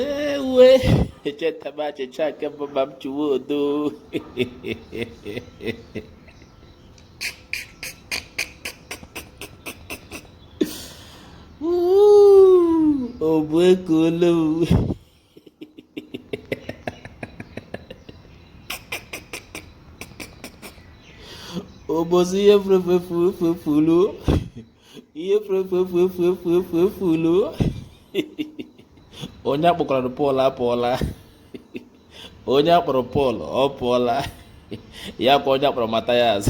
ewe echetaba achịcha nke bụ ma m chụwa odo ọ bụ eke ole ụbọchị ihe furu ihe furu onye akpọkwara Pọl apụọla onye akpọrọ Pọl ọ pụọla ya kwa onye akpọrọ Mathias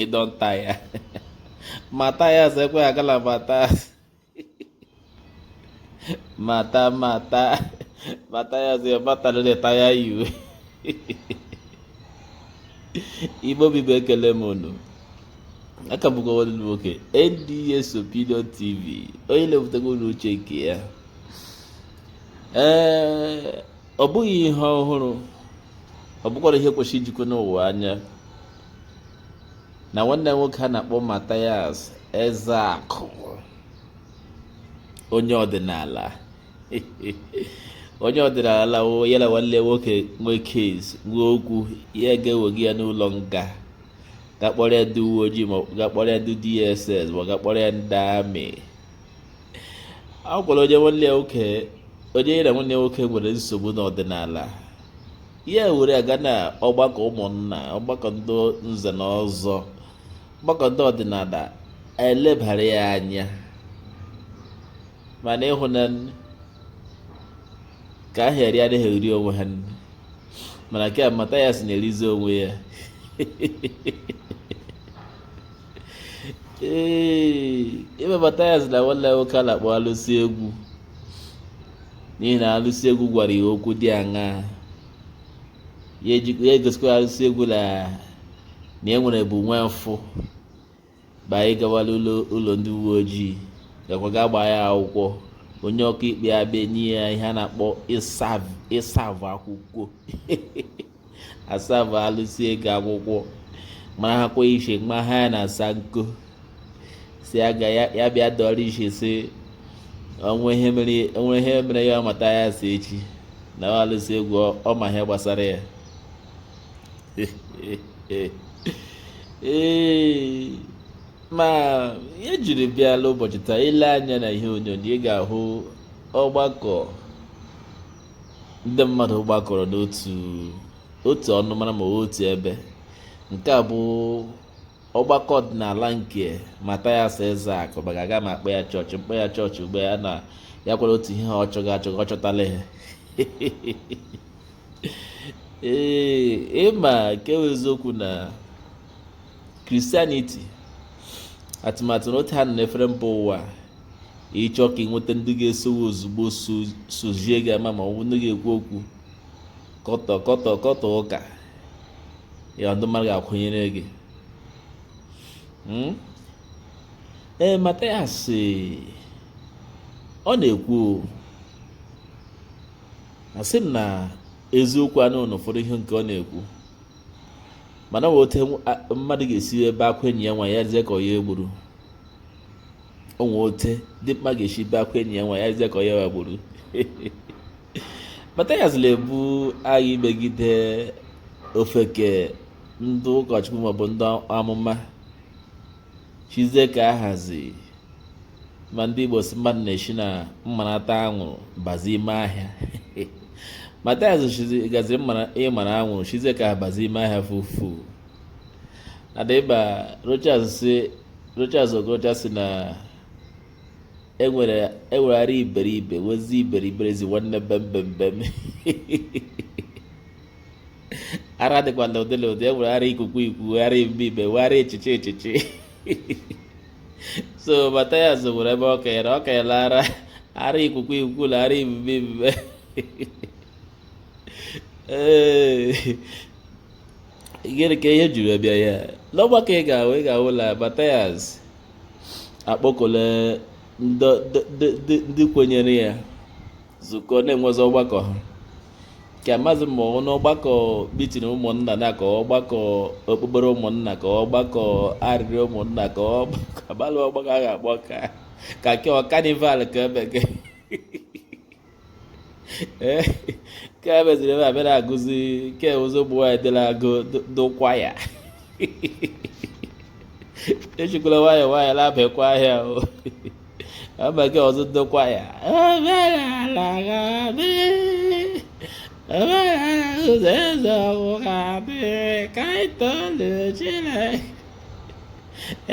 ịdọnta ya Mathias ekweghị agala Mathias mata mata mata ya ọzọ ya mata na leta ya iwe Igbo bụ Igbo ekele m unu a ka bụkwa nwanne m nwoke NDS Opinion TV onye na-ewetere unu uche nke ya ee ọ bụghị ihe ọhụrụ ọ bụkwara ihe kwesịrị ijikọ n'ụwa anya na nwanne nwoke a na-akpọ Mathias Ezeakụ onye ọdịnala onye ọdịnala ya na nwanne nwoke nwee case nwee okwu ya ga-ewega ya n'ụlọ nga ga kpọrọ ya ndị uwe ojii ma ga kpọrọ ya ndị DSS ma ga kpọrọ ya ndị army a gwara onye nwanne ya nwoke onye ya na nwanne nwoke nwere nsogbu n'ọdịnala ya were aga na ọgbakọ ụmụnna ọgbakọ ndị nze na ọzọ ọgbakọ ndị ọdịnala e lebara ya anya mana ịhụ na ka ahụ eri anaghị eri onwe ha mana nke Mathias na-erizi onwe ya ee ebe Mathias na nwanne nwoke a na-akpọ alụsị egwu n'ihi na alụsị egwu gwara ya okwu dị aṅaa ya eji- ya egosikwa alụsị egwu na na e nwere bụ nwa mfụ ba anyị gawala ụlọ ụlọ ndị uwe ojii gakwa gaa gbaa ya akwụkwọ onye ọkaikpe abịa nye ya ihe a na-akpọ ịsav ịsav akwụkwọ a sava alụsị egwu akwụkwọ mara ha kwa ishe mma ha ya na asa nko si aga ya ya bịa dọrọ ishe si o nwee ihe mere o nwee ihe mere ya Mathias eche na ọ alụsị egwu ọ- ọ ma ihe gbasara ya ee ma ya jiri bịala ụbọchị taa i lee anya na ihe onyonyo ị ga-ahụ ọgbakọ ndị mmadụ gbakọrọ n'otu otu ọnụmara ma otu ebe nke a bụ ọgbakọ ọdịnala nke Mathias Ezeaku maka aga m akpọ ya chọọchị m kpọọ ya chọọchị ugbu a na ya kwere otu ihe ọ chọga achọga ọ chọtala ihe ee ịma nke bụ eziokwu na kristianiti atụmatụ na otu ha nọ n'efere mba ụwa ị chọọ ka ị nweta ndị ga-esowe ozugbo sozie gị ama ma ọ bụ ndị ga-ekwu okwu kọtọ ụka ya ndị mmadụ ga-akwụnyere gị hmm? ee Mathias ọ na-ekwu asị m na eziokwu anọ na ụfọdụ ihe nke ọ na-ekwu mana o nwee ote mmadụ ga-esi ebe akwa enyi ya wee yizie ka ọ ya egburu o nwee ote dimkpa ga-esi ebe akwa enyi ya wee yizie ka ọ ya wa gburu Mathias na-ebu agha imegide ofeke ndị ụkọchukwu maọbụ ndị amụma chizie ka a hazi ma ndị Igbo sị mmadụ na-esi na mmarata anwụrụ bazi ime ahịa Mathias gaziri ịmara anwụrụ chizie ka ha bazi ime ahịa fufu adịba Rochas sị Rochas Okorocha sị na e nwere e nwee ara iberibe nwezie iberiberism nwanne bembembem ara dịkwala ụdị na ụdị e nwere ara ikuku iku ara ibibe nwee ara echiche echiche so Mathias nwere ebe ọ kanyere ọ kanyere ara ara ikuku iku na ara ibibe ibibe ee gịnị ka ihe jiri bịa ya n'ọgbakọ ị ga-ahụ ị ga-ahụ na Mathias akpọkọla ndị kwenyere ya zukọ na-enwezi ọgbakọ ha ka amazi ma ọ n'ọgbakọ mitin ụmụnna na ka ọgbakọ okpukpere ụmụnna ka ọgbakọ oriri ụmụnna ka ọgbakọ abalị ọgbakọ a ga-agba ka ka ke ọ kanival ka ebe gị eh, nke a meziri ebe a bịara agụzi nke ụzọ ụmụ nwaanyị dịla agụ dụkwa ya ejikwala nwayọọ nwayọọ na-abịakwa ahịa ọ maghị ụzọ dukwa ya ụzọ eze ọgwụ ga-adị ka anyị tolu Chineke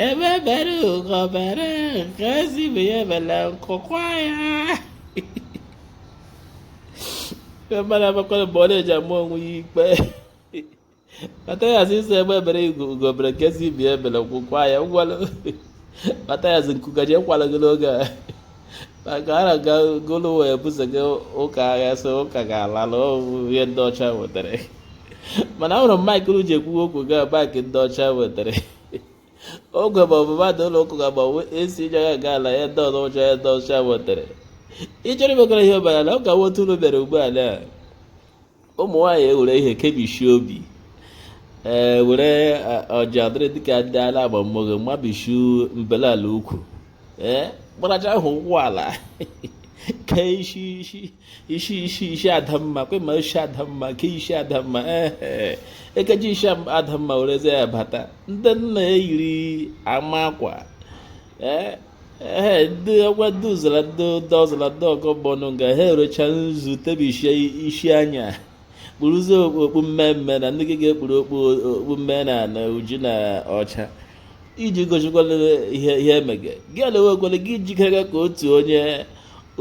egbe bere ugo bere nke sị ibe ya ebela nku kwaa ya mmadụ amakwana mgbe ọ na-eji ama onwe ya ikpe matayas sị egbe bere ugo bere nke sị ibe ya ebela nku kwaa ya ngwalụ matayas nku ga-eji akwala gị n'oge a maka a na-aga gụlụ wee buso gị ụka agha so ụka ga-ala na ọ wụ ihe ndị ọcha wetara mana ahụrụ m maịk ị ji ekwu okwu ugbu a bụkwa ndị ọcha wetara ogwe ma ọ bụ mmadụ ụlọ ụkwụ ga agbanwe esi ije ya ga ala ya ndị ọzọ ụcha ya ndị ọcha nwetara ị chọrọ imekọrọ ihe ọbara na ọ ga nwotu ụlọ mere ugbu a na ụmụ nwaanyị ewere ihe kebishi obi ee were ọja dịrị dịka ndị ala agbammoge mmabishi mbele ala ukwu ee gbaracha ahụ ụkwụ ala kee isi isi isi isi isi adamma kwe ma isi adamma nke isi adamma ee ekeji isi adamma werezie ya bata ndị nna eyiri ama akwa ee ee ndị ọgwa ndị ụzara ndị ụda ọzara ndị ọgọ bọnụ nga ha ewerecha nzu tebisie isi anya kpuruzie okpu mmemme na ndị gị ga-ekpuru okpu mmemme na oji na ọcha iji gosikwala ihe ihe emege gị elewekwala gị jikere ka otu onye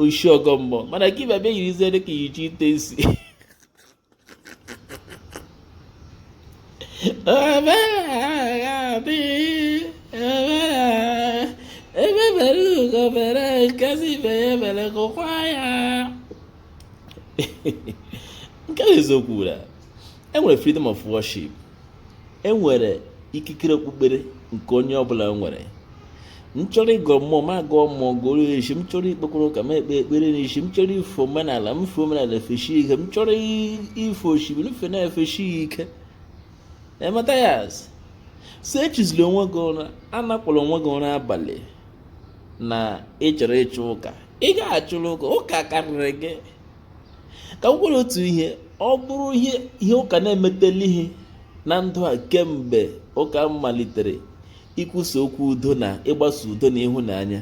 ishi ọgọ mmụọ mana gị bịa bịa yirizie dịka iyichi ite sị egbe bere ugo bere nke sị ibe ya ebela nku kwaa ya nke eziokwu na e nwere freedom of worship e nwere ikikere okpukpere nke onye ọbụla nwere m chọrọ ịgọ mmụọ m agọọ mmụọ gọọ isi m chọrọ ikpekwara ụka m ekpe ekpere n'isi m chọrọ ife omenala m fe omenala efeshi ike m chọrọ ife osimiri m fe na-efeshi ike ee matayas sị echizila onwe gị ụra anakwala onwe gị ụra abalị na ị chọrọ ịchụ ụka ị ga-achụrụ ụka ụka karịrị gị ka m kwukwara otu ihe ọ bụrụ ihe ihe ụka na-emetela ihe na ndụ a kemgbe ụka malitere ikwusa okwu udo na ịgbasa udo na ịhụnanya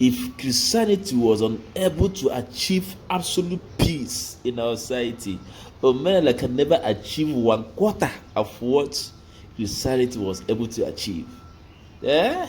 if Christianity was unable to achieve absolute peace in our society Omenala can never achieve one quarter of what Christianity was able to achieve. Yeah?